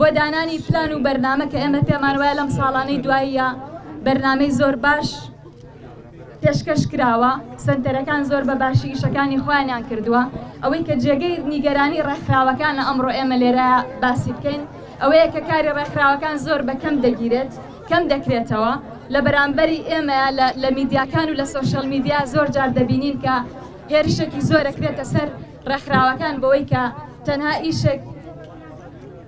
بۆ دانانی پلان و بەرنامە کە ئێمە پێمان وایە لەم ساڵانەی دواییە بەرنمەی زۆر باش پێشکەش کراوە سنتەرەکان زۆر بە باشی ئیشەکانی خۆیانیان کردووە ئەوەی کە جێگەی نیگەرانی ڕێکخراوەکان لە ئەمڕۆ ئێمە لێرە باسی بکەین ئەوەیە کە کاری ڕێکخراوەکان زۆر بە کەم دەگیرێت کەم دەکرێتەوە لە بەرامبەری ئێمە لە میدیاکان و لە سوۆشل میدیا زۆر جار دەبینین کە هێرشێکی زۆرەکرێتە سەر ڕێکخراوەکان بۆی کە تەنها ئیشێک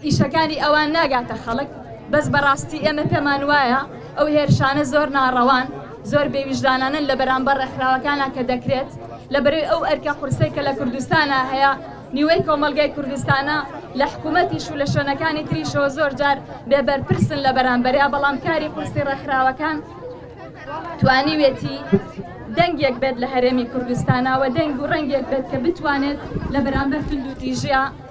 ئیشەکانی ئەوان ناگاتە خەڵک بەس بەڕاستی ئێمە پێمان وایە ئەو هێرشانە زۆر ناڕەوان زۆر بێویژدانانە لە بەرامبەر ڕێکخراوەکانە کە دەکرێت لە بەرەی ئەو ئەرکە قورسەی کە لە کوردستانە هەیە نیوەی کۆمەلگای کوردستانە لە حکوومەتیش و لە شوێنەکانی تریشۆ زۆر جار بێبەرپرسن لە بەرامبەریا بەڵام کاری قورسی ڕێکخراوەکان توانیوێتی دەنگێک بێت لە هەرێمی کوردستانەوە دەنگ و ڕەنگێک بێت کە بتوانێت لە بەرامبەر تونند و تیژە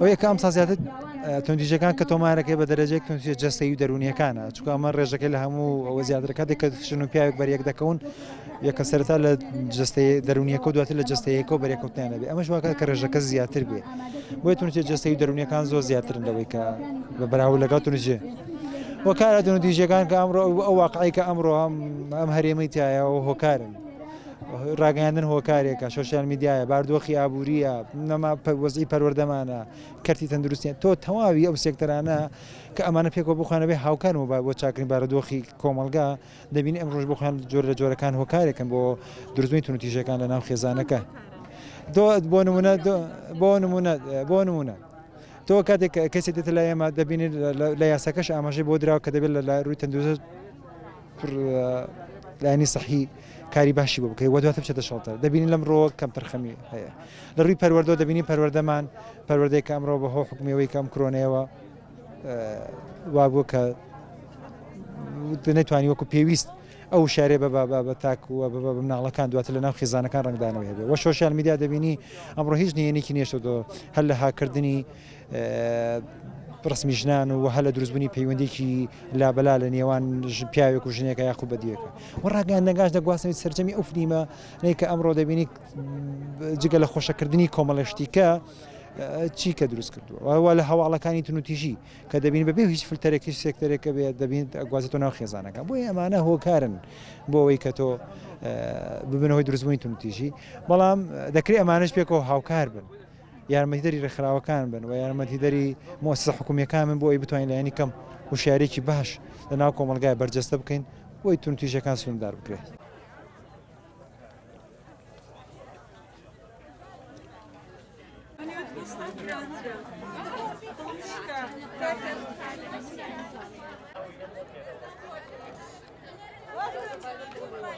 ئەو یەکە ئەمسا زیاتر توندیژەکان کە تۆمارەکەی بە دەرەجێک توندی جەستەی و دەرونیەکانە چکە ئەمە ڕێژەکەی لە هەموو ئەوە زیاتر کاتێک کە شن و پیاوێک بەریەک دەکەون یەکە سەرتا لە جستەی دەرونیەکە دواتر لە جستەیەکە و بەرێکوتیان دەبێت ئەمەش واکە کە ڕێژەکە زیاتر بێ بۆی تونجێ جستەی و دەرونیەکان زۆر زیاترن لەوەی کە بە بەراو لەگەڵ تونجێ وەکارە دون دیژەکان کە ئەمڕۆ ئەو واقعی کە ئەمڕۆ هەم ئەم هەرێمەی تایەوە هۆکارن ڕاگەیاندن هۆکارێکە سوسیال میدیایە باردۆخی ئابووریە نەما وەزی پەروەردەمانە کەرتی تەندروستیان تۆ تەواوی ئەو سێکتەرانە کە ئەمانە پێکەوە بخوانەبێ هاوکار و با بۆ چاکرین بارەدۆخی کۆمەلگا دەبین ئەم ڕۆژ بخوان جۆر لە جۆرەکان هۆکارێکن بۆ درزوین تونوتیژەکان لە ناو خێزانەکە دۆ بۆ نمونە بۆ نمونە بۆ نمونە تۆ کاتێک کەسی دێتە لای ئێمە دەبینێت لە یاساکەش ئاماژەی بۆ دراوە کە دەبێت لە لا رووی تەندروست کوڕ لایەنی سەحی کاری باشی بۆ بکەی وە دواتر بچێتە شەڵتەر دەبینین لەم ڕۆ کەم تەرخەمی هەیە لە ڕووی پەروەردە دەبینی پەروەردەمان پەروەردەی کە ئەمڕۆ بەهۆ حکومەوەی کەم کرۆنەیەوە وابوو کە نەتوانانی وەکو پێویست ئەو شارێ بە بابا بە تاکووە بە بە مناڵەکان دواتر لە ناو خیزانەکان ڕنگدانەوە هەبێ وە سوۆشال میدیا دەبینی ئەمڕۆ هیچ نیەنێکی نێشتەوە هەر لە هاکردنی ڕەسمی ژنان و هەلە دروستبوونی پەیوەندێکی لابەلا لە نێوان پیاوێک و ژنێکە یاخو بەدیەکە و ڕاگەیان نەگاش دەگواستنەوەی سرجەمی ئەو فلیمە نیکە ئەمڕۆ دەبینی جگە لە خۆشەکردنی کۆمەڵشتیکە چی کە دروست کردووە وا لە هەواڵەکانی تونوتیژی کە دەبین بەبێ هیچ فلتەرێکی سێکتەرێکە بێ دەبین گوازێتەوە ناو خێزانەکە بۆی ئەمانە هۆکارن بۆ ئەوەی کە تۆ ببنەوەی دروستبوونی تونتیژی بەڵام دەکرێت ئەمانش پێکەوە هاوکار بن. یارمەتیدەری ڕێکخراوەکان بن و یارمەتیدەری مۆسسە حکومیەکان من بۆ ئەوی بتوانین لایەنی کەم وشارێکی باش لە ناو کۆمەلگای بەرجەستە بکەین بۆی تون تویژەکان سوندار بکرێت.